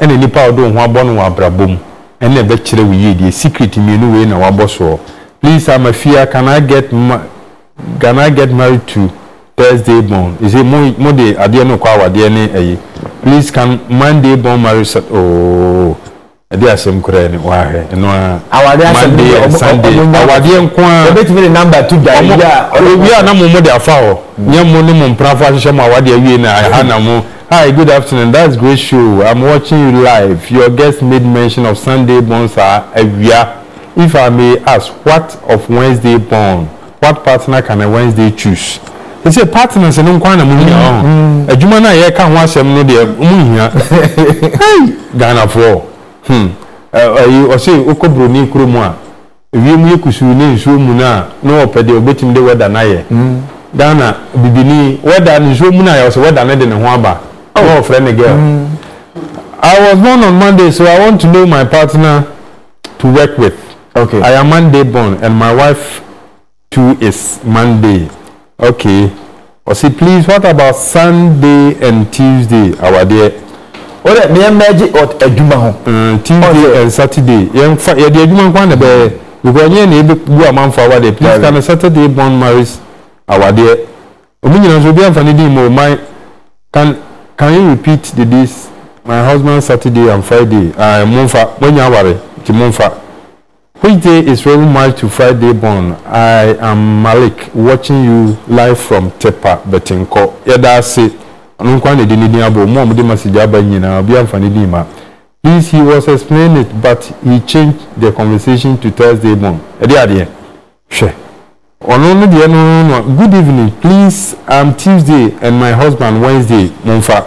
ɛna nipa a ɔde wo ho abɔ no wɔ abrabɔ mu ɛna ɛbɛkyerɛ wo yie deɛ secret mmienu wei na wabɔ soɔ please I'm afia can I get ma can I get married to Thursday born is it mo mo de adeɛ no kɔ awadeɛ ne ɛyi please can Monday born marry sa ooo ɛde asɛm koraa ni wahwɛ ɛno ara Awadeɛ asɛm no Monday deɛ, and ɔmo- Sunday ɔmo nya- awadeɛ nko ara Yɛbɛtumi de number to dwa ɔmo yi a ɔno- owie a na mo mo de afa hɔ nyɛ mo ne mo mprafo ahyehyɛ mo awadeɛ awie na ɛha na mo Hi good afternoon that's great show I'm watching you live your guest made mention of Sunday born saa awia if I may ask what of Wednesday born what partner can a Wednesday choose sese partners no nkoa na mo hia ɔho adwuma no a yɛka ho asɛm no deɛ mo nhia hey Ghanafoɔ hmm ɛyi ɔse wokɔ broni kuro mu a Wiem yɛ kusuu ne nsuo muna a na ɔpɛ deɛ ɔbɛtumi de wɛda no ayɛ. Ghana bibini wɛda no nsuo muna yɛ ɔsɛ wɛda no de ne ho aba na ɔfrɛ ne girl. I was born on Monday so I want to know my partner to work with. I am Monday born and my wife two is Monday okay ɔse please what about Sunday and Tuesday awadeɛ. Wo dɛ meɛ mɛgye ɔt adwuma ho. Ɛɛ Tuesday and Saturday yɛn fa yɛde adwuma nko ana bɛyɛ because nyɛ na ebe bu amanfo awadeɛ please ka no Saturday born marries awadeɛ ɔmo nyina nso obi anfa ne din mo my can can you repeat the days my husband Saturday and Friday ae mo nfa mo anya aware nti mo nfa. Which day is Rev March to Friday born I am Malik watching you live from Tepa Bɛtenkɔ yɛda ase ɔno nko ara na ɛde ne din abɔ mu a wɔde message aba nyinaa obiara mfa ne din mma please he was explaining it but he changed the conversation to Thursday born ɛde adeɛ hwɛ ɔno no deɛ no no good evening please I'm Tuesday and my husband Wednesday momfa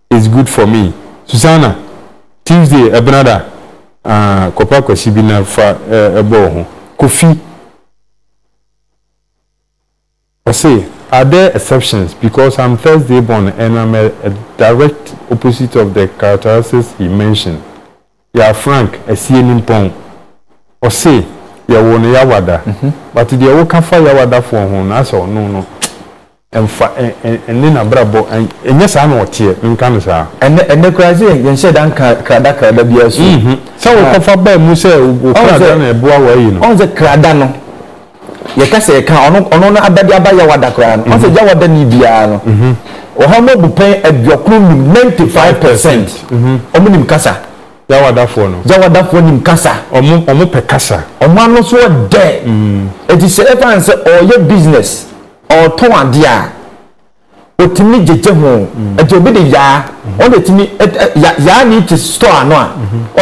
is good for me Susanna Tuesday ɛbenada ah kɔpɛ akwasi bi na fa bɔ wo ho Kofi ɔse are there exceptions because I'm Thursday born and I'm a direct opposite of the characteristics he mentioned Yɛa Frank Asienimpong, ɔse yɛwoo no Yawada, but deɛ woka fa Yawadafoɔ ho no asɛ ɔno no ɛnfa ɛnne nabrabɔ ɛnyɛ saa na ɔteɛ, menka no saa. Ɛnɛ ɛnɛ koraa ɛsɛ yɛ yɛnhyɛ da nka krada krada biara su. Sɛ wokɔfa baa mu sɛ wokra da na ɛboa wo ayi no. Ɔhu sɛ krada no. Yɛka sɛ yɛka ɔno ɔno no abɛde aba Yawoada koraa no, ɔsɛ Yawoada ni biara no, ɔha mu abupɛn aduokron nim, ninety five percent, ɔmo nim kasa. Yawadafoɔ no. Yawadafoɔ nim kasa. Ɔmo ɔmo pɛ kasa. Ɔmo ano so ɔdɛ. Eti sɛ ɛfa no sɛ ɔɔyɛ business, ɔɔtɔn adeɛ a. otumi gyegye ho nti obi de yaa ɔno etumi yaa ne ti store ano a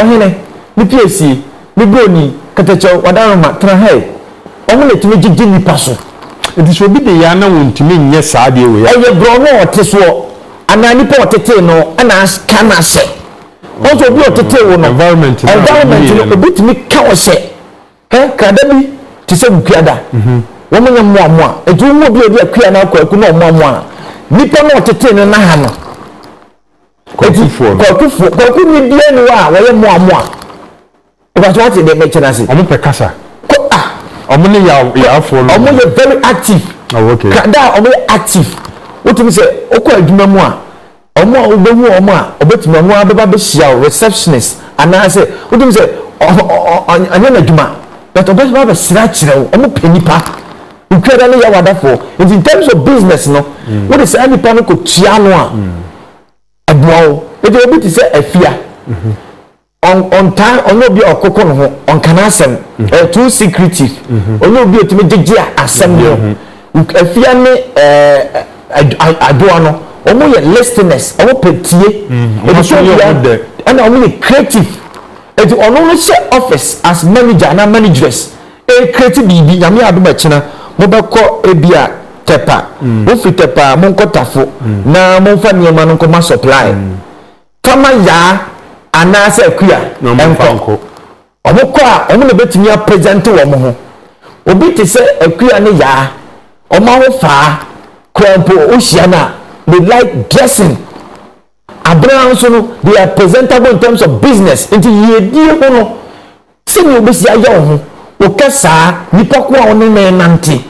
ɔhene ne pie sie ne broni kɛtɛkyɛw wadaroma tena hɛe ɔmo na etumi gyegye nipa so. Nti sɛ obi de yaa na wɔntumi nyɛ saa adeɛ wei a. Ɛyɛ borɔno a ɔte soɔ anaa nipa a ɔtetee no ɛna ka no ahyɛ. Ɔnso obi a ɔtetee wo no environment no obi tumi ka wo hyɛ. Hɛn nkrada bi tse sɛ nkuada. Wɔnyɛ mmoamoa. Ntsi wohu obi a ɔdze akua anaa kwaku na ɔmoamoa a, nyimpa no a ɔtsetee no na ha no. Ntsi kwakufoɔ, kwakunyi biara nni hɔ a wɔyɛ mmoamoa. Mepɛ sɛ wɔate deɛ merekyɛ no ase. Wɔn pɛ kasa. Kɔ a. Wɔn ne yaw yawfoɔ no. Wɔn yɛ very active. Oh okay. Krada a wɔn yɛ active. Wotumi sɛ wokɔ adwuma mu a. Wɔn a wubehu wɔn a obetumi ɔno ara bɛba abehyia wo, receptionist anaasɛ wotumi sɛ ɔnyɛ n'adwuma but ɔbɛba abɛsrɛ akyerɛ wo. Wɔpɛ nnipa. Nkuada no yɛ awadafoɔ nti in terms of business no wode saa nnipa no kɔtua ano a ɛboa wo. Ɛdeɛ obi te sɛ Afia. Ɔn ɔntaa ɔnyɛ obi a ɔkoko ne ho, ɔnka n'asɛm, ɔyɛ too secretive, ɔnyɛ obi a otumi gyegye a asɛm no mu. Uk Afia ne ɛɛ ad Adwoa no, wɔn yɛ listeners, wɔn pɛ tie, wɔn aso yɛ wɔn dɛ, ɛna wɔn yɛ creative. Enti ɔno no hyɛ office as manager anaa manageress re create biribi, Nyame adom a akyina mo bɛ kɔ ebi a Tɛpa, mo firi Tɛpa a mo nkɔ Tafo na mo nfa nneɛma no nkɔ ma supply. kama yaa anaasɛ akua nkɔ. Wɔn kɔ a, wɔn na bɛtumi apɛzɛnte wɔn ho. Obi te sɛ akua ne yaa, wɔn ahofaa koraa mpo wohyia no a, they like dressing. Abena nso no, they are presentable in terms of business. Nti yiedie ho no, Sɛnea wubesi ayɛ wo ho wo kɛ saa nipa ko a wo ne no renante,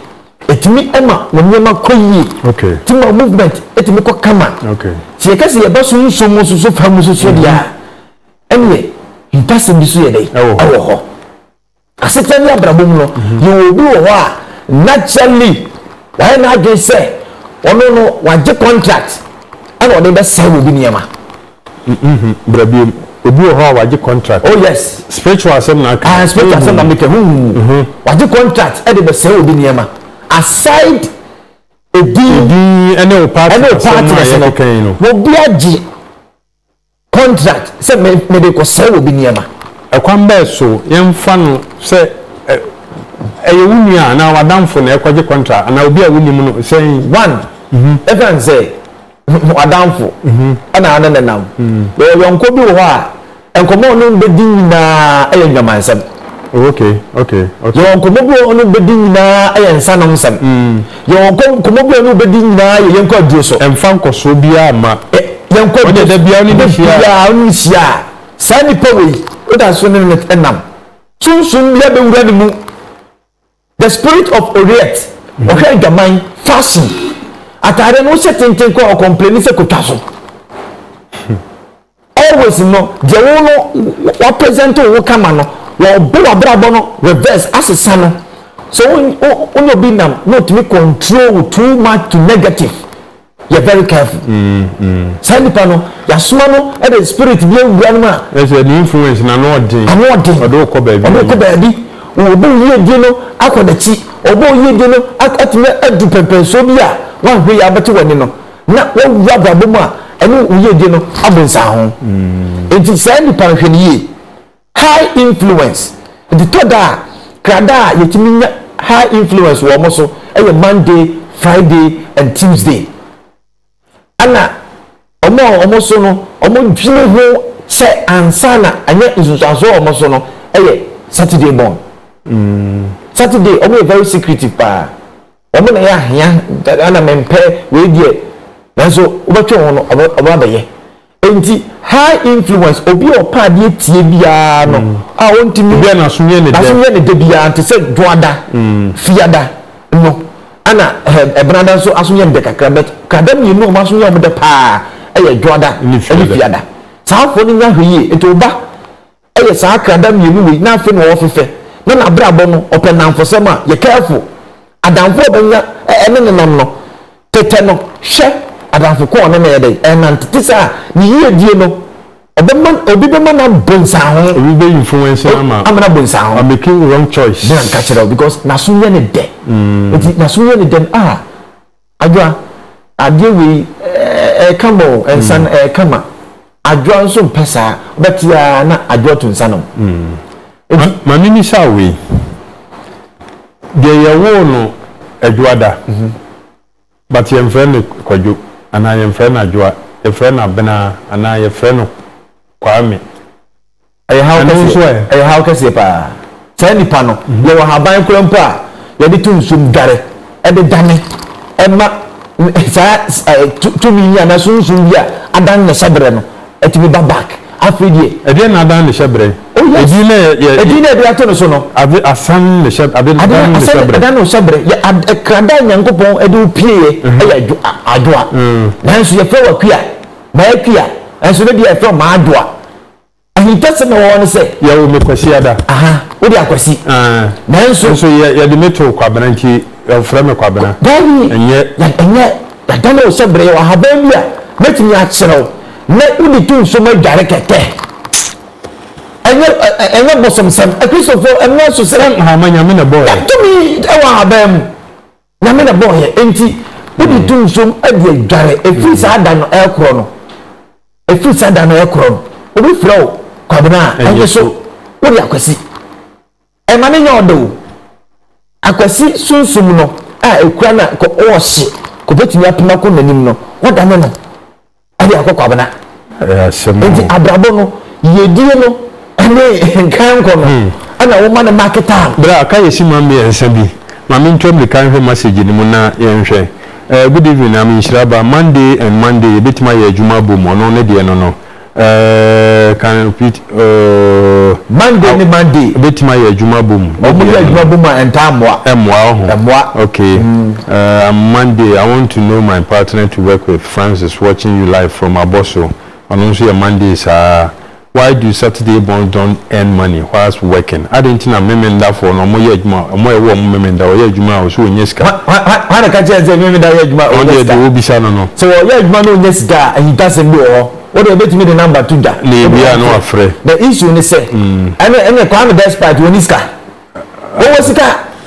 etumi ma wo nneɛma kɔ yie. Etumi ma wo movement etumi kɔ kama. Sɛ yɛka sɛ yɛba so nso mu nso so fa mu nso so deɛ a, ɛneɛ mpasɛm bi so yɛ dɛ ɛwɔ hɔ. Asetena ne abrabɔ mu no, yɛwɔ obi wɔ hɔ a naturally wayɛ n'adwene sɛ ɔno no wagye contract ɛna ɔde bɛsɛe obi nneɛma. Mh bra biom. Obi wɔ hɔ a wagye contract. Oh yes. Spiritual asɛm na aka. Aah spiritual asɛm na meka huumm. Wagye contract de bɛsɛe obi nneɛma. Aside edin. Edin ne wo partner asɛm a yɛkeka yi no. Obi agye contract sɛ mede rekɔsɛe obi nneɛma. Ɛkwan bɛɛ so yɛmfa no sɛ ɛyɛ wo nua anaa w'adamfo na ɛrekɔgye contract anaa obi a wonim no sɛn? One, yɛka no sɛ. w'adamfo ɛna ane ne nam yɛwɔ yɔnko bi wɔ hɔ a nkɔmɔ ɔno bɛdi nyinaa ɛyɛ nnwamansɛm yɛwɔ nkɔmɔ bi ɔno bɛdi nyinaa ɛyɛ nsanom nsɛm yɛwɔ nkɔmɔ bi ɔno bɛdi nyinaa yɛ yɛnkɔ aduro so ɛmfa nkɔsoɔ biara ma yɛnkɔ aduro so biara ɔno ne hyia a saa nipa wei woda so ne ne nam sunsun bi abɛwura ne mu The spirit of Oriette ɔhwɛ adwaman fashion ataadeɛ no wohyɛ tenten kɔ ɔkɔmpleni sɛ kotwa so always no deɛ wo no wapresent wo kama no wɔbɔ wabrabɔ no reverse asesa no so wo ne obi nam na otumi control wo too much to negative yɛ very careful saa nipa no yasoma no ɛde spirit bi awura no mu a. ɛsɛ ne influence na ano ɔden ano ɔden ɔde okɔ baabi ɔde okɔ baabi obi oyie di no akɔ n'akyi obi oyie di no atumi adu pɛmpɛnsuo bi a wahwɛ yi abɛte w'ani no na wawura abrabɔ mu a ɛne oyie di no abɔ nsaho nti saa nipa no hwɛ no yie. High influence, Enti tɔ da a, krada a yɛtumi nya high influence wɔ wɔn so yɛ Monday, Friday and Tuesday. Ɛna wɔn a wɔn so no wɔdwene ho sɛ ansa na anya nsunsuansoɔ wɔ wɔn so no yɛ Saturday born. Saturday wɔyɛ very secretive paa. Wɔn na ɛyɛ ahea dada na mempɛ wei deɛ nanso wobɛtwe ho no ɔbɛ abɛyɛ nti high influence obi a ɔpɛ adeɛ tie biara no mm. a ɔntumi obi a n'aso yɛ ne dɛ n'aso yɛ ne dɛ biara nti sɛ dwoada mm. fiada no ɛna ɛbenada nso aso yɛ ne dɛ kakra bɛt krada mmienu a wɔn aso yɛ wɔn dɛ paa ɛyɛ dwoada ɛne fiada saa afɔ no nya hwɛ yie nti ɔba. yɛ saa krada mmienu wei na afei na ɔfefɛ na n'abrabɔ no ɔpɛ nnamfosɛm a yɛ careful adamfo a ɔbɛnya ɛne ne nam no tetɛ no hwɛ adamfo ko a ɔne no yɛ dɛ ɛnante te sɛ a ne yiedie no ɔbɛma obi bɛma na bonsanho obi bɛ influence na ma amena bonsanho I'm making wrong choice na nka kyerɛ because naso yɛ ne dɛ nti naso yɛ ne dɛ ah Adwoa, adeɛ wei ɛyɛ kama o, nsa no ɛyɛ kama. Adwoa nso mpɛ saa, wobɛte ara na Adwoa tu nsa nom. Enti. Ma me mmisa wo wei, deɛ yɛwoo no Adwoada, but yɛmfrɛ no Kwadwo anaa yɛmfrɛ no Adwoa, yɛfrɛ no Abena anaa yɛfrɛ no Kwame, Ɛyɛ haw Ɛno nso kɛseɛ. ɛ? Ɛyɛ haw kɛseɛ paa. Saa nipa no, yɛwɔ haban koraa mpo a yɛde to nsuo mu dware de dane ma saa ɛ tu tumi yi anaa sunsum bi a adan ne hyɛbrɛ no tumi ba back. Afei deɛ. Ɛdeɛn na adan ne hyɛbrɛ? Oh yes. Edin no a yɛ yɛ. Edin no a yɛde ato no so no. Ade asan ne hyɛ ade Ade adan ne asan hyɛbrɛ. adan ne hyɛbrɛ. Yɛ ad krada a Nyankopɔn de wo pieeɛ yɛ adwo a adwoa. Nanso yɛfrɛ wo Akua, M'Akua. Nanso ne deɛ yɛfrɛ wo M'Adwoa. Ahintase na wɔwɔ no sɛ. Yɛwo me Kwasiada. Aha, wode Akwasi. Ɛɛ. Nanso. Nanso yɛ yɛde me too Kwabena nti wɔfrɛ me Kwabena. Daabi. Ɛnyɛ. Ɛnyɛ yɛada no sɛ berɛ yɛwɔ ahaban bi a mɛtumi akyerɛ wo na wode to nsuo mu adware kɛkɛ. Ɛnyɛ ɛnyɛ bosomsɛm. Akristofoɔ ɛno nso sɛ. Nhoma Nyame na ɛbɔɔɛ. Tumi wɔ ahaban mu. Nyame na bɔɔ yɛn enti wode to nsuom de adware ɛfiri saa da no ɛkorɔ no ɛfiri saa da no ɛkorɔ no obi frɛ wo Kwabena a ɛnyɛ so wode Akwasi ɛma no nyɛ ɔdɛ o Akwasi sunsum no a ɛkura no a kɔ ɔɔhye kɔbɛtumi apem akɔ nanim no wadane no Ɛde akɔ kwabena. Nti abrabɔ no yɛdie no ɛne nkankɔ no hmm. ɛna woma no market time. Bra ka yɛsi ma mmiɛnsa bi ma mentu amirika nhwɛ message no mu na yɛnhwɛ. Uh, good evening, I'm Inshiraba. Monday and Monday, yɛbɛtumi ayɛ adwuma abom, ɔno ne deɛ no no. Uh, can repeat. Monday ne Monday. Ebetumi ayɛ adwuma bom. Wɔn yɛ adwuma bom a ɛntaa mmoa. Ɛmmoa ɔho. Ɛmmoa. Okay. Uh, I'm Monday. I want to know my partner to work with. Francis watching you live from Abosso. Ɔno nso yɛ Monday saa. Why do Saturday borns don't earn money whilst working? Adi nti na memendafoɔ no wɔn yɛ adwuma wɔn a ɛwɔ wɔn memenda wɔyɛ adwuma a ɔsɛ wɔnyɛ sika. Hwan na ka kyerɛ sɛ memenda yɛ adwuma ɔnyɛ sika? Wɔn deɛ deɛ wɔbisa no no. Sɛ wɔyɛ adwuma na ɔnyɛ sika a he doesn't know hɔ. Wode obetumi de number to dwa. Na ebi a na wafrɛ. The issue ne sɛ. Ɛne ɛne Kwame despite wɔn ni sika. Wɔwɔ sika.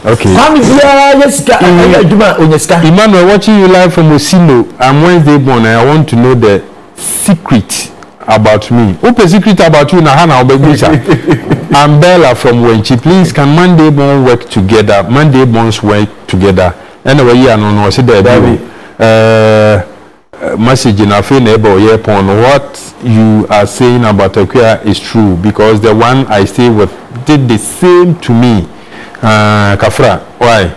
Okay. Kwame biara yɛ sika ɛyɛ adwuma onya sika. Emmanuel watching you live from Osilo. I'm Wednesday born and I want to know the secret about me. Wopɛ secret about you na ha na wobɛbisa. I'm Bella from Wenchi. Please can Monday born work together? Monday borns work together. Ɛna wayi ano no ɔsi daabi o. Ɛɛ. Message no afei na ɛba ɔyɛɛ pɔn no what you are saying about Akua is true because the one I stay with did the same to me aah Kafra why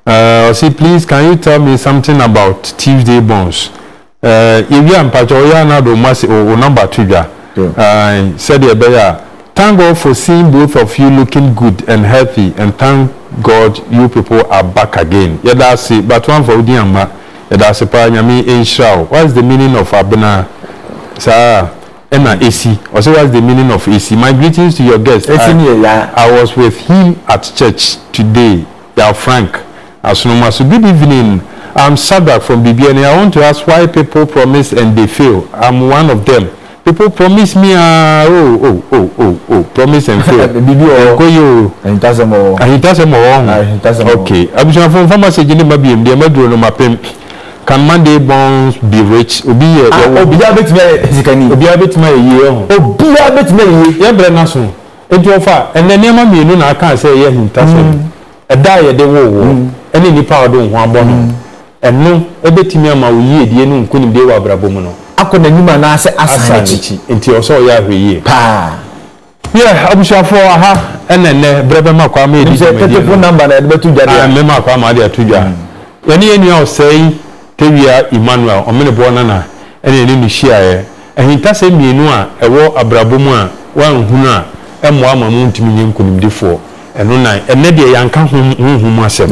aah ɔse please can you tell me something about Tuesday Bonds aah yɛwie a mpakyɛw ɔyɛ a na ɔde wo number to dwa aah sɛdeɛ ɛbɛyɛ a Thank God for seeing both of you looking good and healthy and thank God you people are back again yɛda ase but woamfa wodin amma yɛda ase paa Nyame nhyira wo what's the meaning of abena saa ɛna esi ɔse what's the meaning of esi my greetings to your guest I Esi ne yɛ yaa. I was with him at church today Yaw Frank Asonomaso Good evening I'm Sadrack from Biribiani I want to ask why people promise and they fail I'm one of them People promise me ah oh oh oh oh oh promise and fail. Bibi wɔ hɔ. Ɛnkɔ yie o. Ahintasɛm wɔ hɔ. Ahintasɛm wɔ hɔ. Ahintasɛm wɔ hɔ. Okay. Abusuafo nfa message ne ma biem deɛ maduro no mapem. Can Monday borns be rich? Obi yɛ. Ah obiara betumi ayɛ sikani. Obiara betumi ayɛ yie ɛho. Obiara betumi ayɛ yie. Yɛn brɛ n'aso. Eti ɔfa ɛnɛ nneɛma mmienu na aka sɛ ɛyɛ ahintasɛm. Ɛda a yɛde woo wo ɛne nipa a ɔde wo ho abɔ no. Ɛno betumi ama wo yiedie ne wo nkonimdie wɔ abrabɔ mu no. Akɔ n'anim anaasɛ asan n'akyi. Enti ɛwɔ sɛ ɔyɛ ahwɛyie. Paa. Yɛ abusuafoɔ aha na ɛnnɛ berɛ bɛma kwan ma yɛdi dwumadie no. Nim sɛ tɛtɛfo number na yɛde bɛto dwa deɛ a. Mɛma kwan ma wode ato dwa. Yɛne yɛn nua Osei Tawia Emmanuel, Ɔmeneboɔ Nana, na yɛne no hyiaeɛ. Ahintasɛm mmienu a ɛwɔ abrabɔ mu a woanhunu a ɛmmoa ama mo ntumi nyɛ nkonimdifoɔ. Ɛno na ɛnnɛ deɛ yɛanka hom honhom mu asɛm.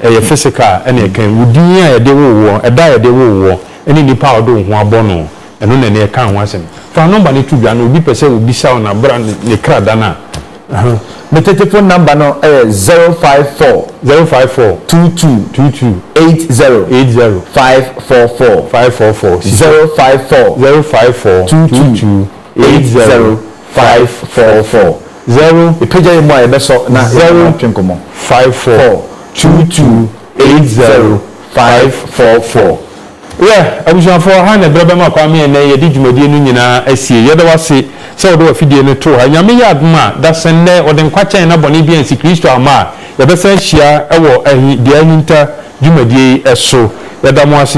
Ɛyɛ physical a ɛna ɛka yi. Wo din a yɛde woo woɔ, ɛda a yɛde woo woɔ, ɛne nipa a wɔde wo ho abɔ no, ɛno na ɛna ɛka ho asɛm. Fa nɔmba no to dwa na obi pɛ sɛ obisa wo no a, bra ne krada no a. Me tetefon nɔmba no yɛ zero five four. Zero five four. Two two. Two two. Eight zero. Eight zero. Five four four. Five four four. Zero five four. Zero five four. Two two. eight zero five four four zero epagya yɛ mu a yɛbɛsɔ na yɛbɛma atwe nkɔmmɔ five four two two eight zero five four four. Yɛ abusuafoɔ ha na ɛberɛ bɛma Kwame ɛnnɛ yɛde dwumadie no nyinaa asie. Yɛda wo ase sɛ wode w'afidie no too ha. Nyame yɛ adom a, dasɛ nnɛ wɔde nkwa kyɛn na bɔne bi ansi Kristo amma a, yɛbɛsan ahyia wɔ ahi, dua ahinta dwumadie yi so. Yɛda mo ase.